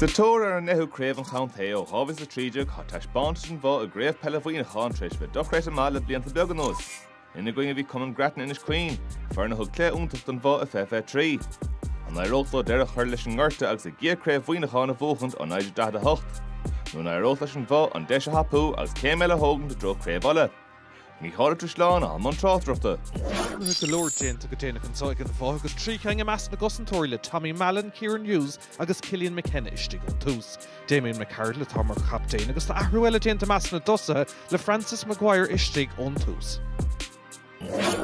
Sa tóir ar an ndeichiú craobh an chontae ó 2013 tá taispeántas an Bhoth i gCraobh Peile Mhuineacháin tar éis a bheith dochreidte maith le blianta beaga anuas. Ina gcoinne bhí Cumann Grattan Inis Caoin, foireann a thug cluiche iontach don Bhoth i 2023. An éireodh leo deireadh a chur leis an ngorta agus a gcéad craobh Mhuineacháin a bhuachaint ó 1948? Nó an éireodh leis an Bhoth an deis a thapú agus céim eile a thógaint i dtreo Craobh Uladh? Micheál Ó Drisleáin i mbun tráchtaireachta. Athruithe go leor déanta go déanach anseo ag an Bhoth agus trí cheann i measc na gcosantóirí le Tommy Mallen, Kieran Hughes agus Killian McKenna istigh ón tús. Damien McArdle atá mar chaptaen agus tá athrú eile déanta i measc na dtosaithe le Francis Maguire istigh ón tús.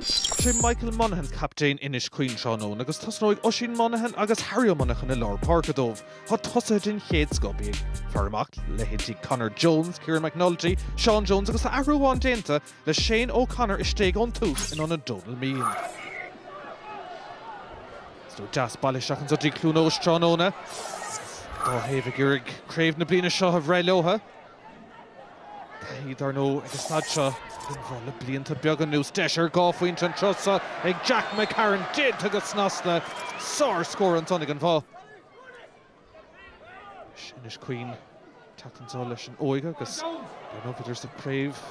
Sé Michael Monaghan captaen Inis Caoin tráthnóna agus tosnóidh Oisín Monaghan agus Harry Monaghan i lár páirce dóibh. Tá tosaithe den chéad scoth bí ag faire amach leithéidí Conor Jones, Ciarán McNulty, Seán Jones agus athrú amháin déanta le Shane O'Connor istigh ón tús in ionad Donal Meegan. Slua deas bailithe isteach anso go dtí Cluain Eois tráthnóna. Dá thaobh ag iarraidh craobh na bliana seo a bhreith leotha. Taithí dar ndóigh ag an staid seo ag an Bhoth le blianta beaga anuas. Deis ar dhá phointe an turas so ag Jack McCarron déanta go snasta. Sárscór ansan ag an Bhoth. Inis Caoin teacht anseo leis an óige agus dar ndóigh bhíodar sa chraobh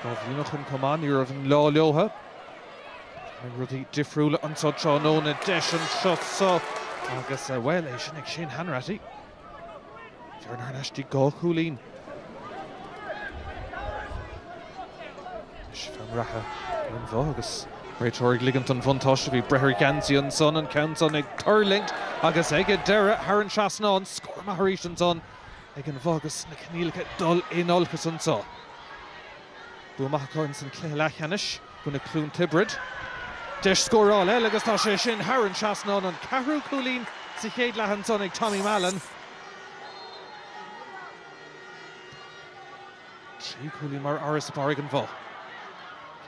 dhá bhliain ó shin chomh maith, ní raibh an lá leotha. An mbeadh rudaí difriúla anseo tráthnóna deis anseo so agus bhuel é sin ag Shane Hanratty. Bearna anois de dhá chúilín leis, fear reatha ag an Bhoth agus réiteoir ag ligint an bhuntáiste. Bhí breith ar gheansaí ansan, an ceann san ag tuirlingt agus ag an deireadh thar an trasnán. Scór maith arís ansan ag an Bhoth agus na coinníollacha ag dul in olcas anseo. Bua maith acu insan chluiche leathcheannais. i gcoinne Cluain Tiobraid deis scórála eile agus tá sé sin thar an trasnán an ceathrú cúilín sa chéad leath ansan ag Tommy Mallen. Trí cúilín mar fharasbarr ag an Bhoth.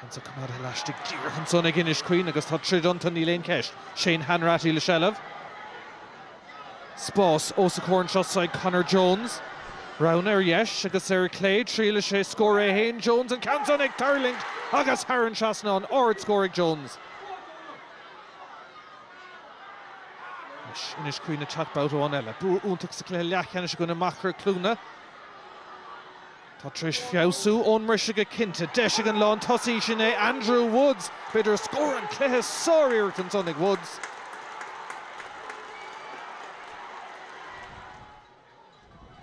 Ceann san coimeádta laistigh díreach ansan ag Inis Caoin agus tá troid iontu, níl aon cheist. Shane Hanratty le seilbh. Spás os a chomhair anseo so ag Conor Jones. Roghanna ar dheis agus ar chlé. Triailfidh sé scór é féin, Jones, an ceann san ag tuirlingt agus thar an trasnán. Ard scór ag Jones. Inis Caoin ag teacht babhta amháin eile. Bua iontach sa chluiche leathcheannais i gcoinne Machaire Cluana. Tá tar éis feabhsú ón mbriseadh go cinnte. Deis ag an lán tosaí, sin é Andrew Woods. B'fhéidir scór an cluiche, sár-iarracht ansan ag Woods.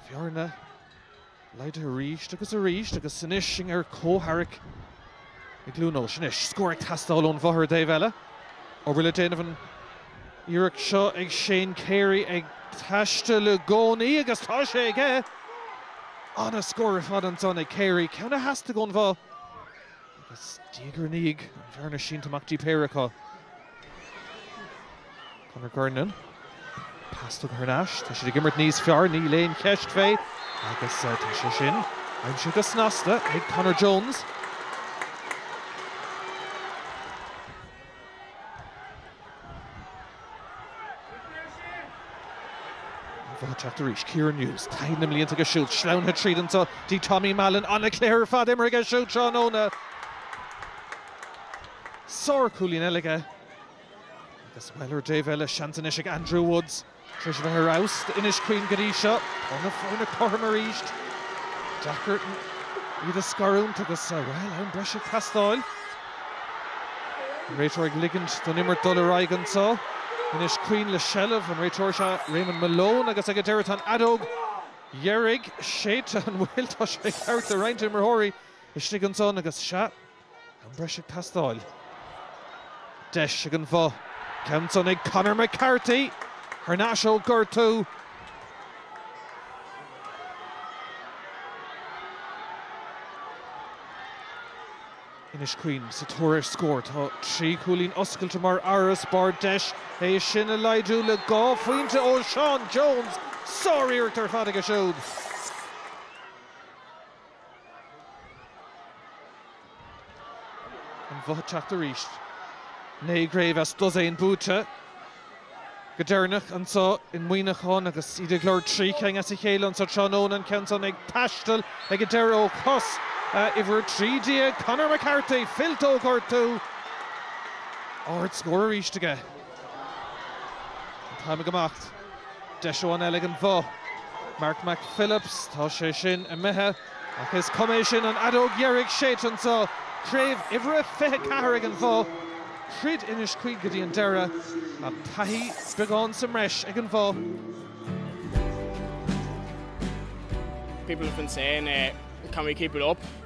Bearna laghdaithe arís agus arís agus anois sinn ar comhtharrac. I gCluain Eois anois. Scór ag teastáil ón Bhoth ar an dtaobh eile. Obair le déanamh an iarracht seo ag Shane Carey ag taisteal i gcónaí agus tá sé aige! An-scór ar fad ansan ag Carey, ceann a theastaigh ón Bhoth agus diaidh ar ndiaidh an bhearna sínte amach dtí péire acu. Conor Kernan, pas tugtha thar n-ais, tá siad ag imirt níos fearr, níl aon cheist fé agus tá sé sin aimsithe go snasta ag Conor Jones. An Bhoth ag teacht arís. Kieran Hughes, taithí na mblianta aige siúd, sleamhnaithe tríd anseo, dtí Tommy Mallen, an-chluiche ar fad imeartha aige siúd tráthnóna. Sárchúilín eile aige agus, bhuel, ar an dtaobh eile, seans anois ag Andrew Woods tar éis a bheith ar fheabhas d'Inis Caoin go dtí seo. Tá na foirne cothrom arís. Deacair iad a scarúint agus, bhuel, am breise ag teastáil. An réiteoir ag ligint don imirt dul ar aghaidh anseo. Inis Caoin le seilbh. An réiteoir is ea Raymond Malone agus ag an deireadh tá an fheadóg dheiridh séidte. An bhfuil? Tá sé thart le roinnt imreoirí istigh ansan agus, sea, Am breise ag teastáil. Deis ag an Bhoth. Ceann san ag Conor McCarthy! Thar n-ais ó gortú. Inis Caoin sa tóir ar scór. Tá trí chúilín oscailte mar fharasbarr. Deis é sin a laghdú le dhá phointe ó Sheán Jones! Sár-iarracht ar fad aige siúd. An Bhoth ag teacht arís. Naoi gcraobh as dosaen buaite go deireanach anseo i Muineachán agus iad ag lorg trí cinn as a chéile anseo tráthnóna. An ceann san ag taisteal ag an deireadh ó chos uimhir 13, Conor McCarthy. Fillte ó ghortú. Ardscór arís aige. An t-am ag imeacht. Deis amháin eile ag an Bhoth. Mark McPhillips, tá sé sin imithe. Ach is cuma, é sin an fheadóg dheiridh séidte anseo. Craobh uimhir a 24 ag an Bhoth. Throid Inis Caoin go dtí an deireadh. Ach taithí beagán sa mbreis ag an Bhoth.